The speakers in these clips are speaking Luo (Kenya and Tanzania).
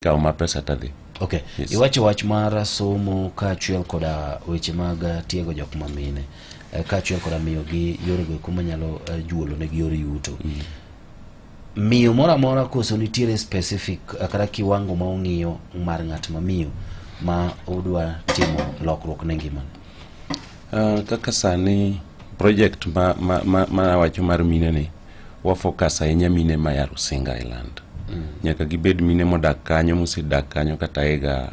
kawo ma pesa tadhi okay yes. iwacho wach mar somo kaachiel koda weche mag eh, tiego jok ma mine eh, kaachiel koda miyogi yorego eko manyalo eh, juolo negi yor yuto mm -hmm. miyo moro amora koso nitiere specific eh, kata kiwango ma ong'iyo mar ng'at ma miyo ma odwa timo lokruok ne ngima uh, eh, kaka sani project ma, ma, ma, ma awacho mar mine ni Wafokas ahinya mine ma ya Rusinga Island. Mm. Nyaka gibed mine modak kanyo mosedak kanyo kata ega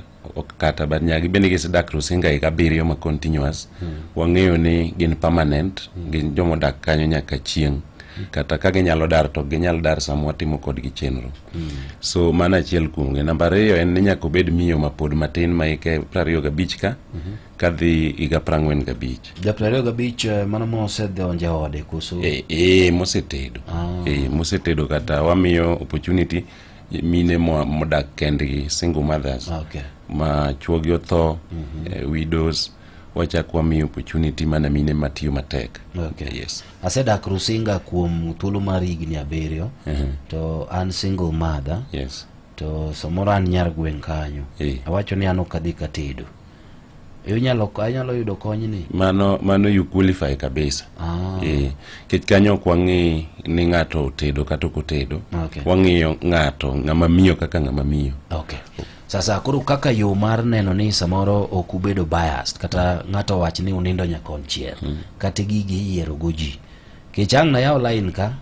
kata but nyaka gibende gisedak Rusinga higa abiriyo ma continuous. Mm. Wang'eyo ni gin permanent, mm. gin jomodak kanyo nyaka chieng'. Mm. Kata ka ginyalo dar to ginyalo dar sama watimo kodgi chenro. Mm. So mano achiel kuomgi. Namba ariyo en ni nyaka obed miyo mapod matin ma hike prariyo gabich ka. Mm -hmm. kadhi higa prang'wen gabich ja prariyo gabich eh, mano mosedhonje ode koso e, e, mosetedo ah. e, mosetedo kata wamiyo opportunity mine modak kendgi single mothers ah, okay. ma chuogi otho mm -hmm. eh, widows wachak wamiyo opportunity mana mine matiyo matek okay. yes. asedak rusinga kuom thuolo mar higni abiriyo uh mhm. -huh. to an single mother yes. to samoro an nyar gweng' kanyo e. awacho ni an ok adhi katedo inyalo anyalo yudo kony ni mano mano you qualify kabisa ah. eh kech kanyo kwa ngi ni ngato tedo kata ko tedo okay. wangiyo ngato ngama miyo kaka ngama miyo okay sasa koro kaka yo mar neno ni samoro ok ubedo biased kata ngato wach ni unindo nyakon chier hmm. kata gigi yiero goji kech ang na yaw line ka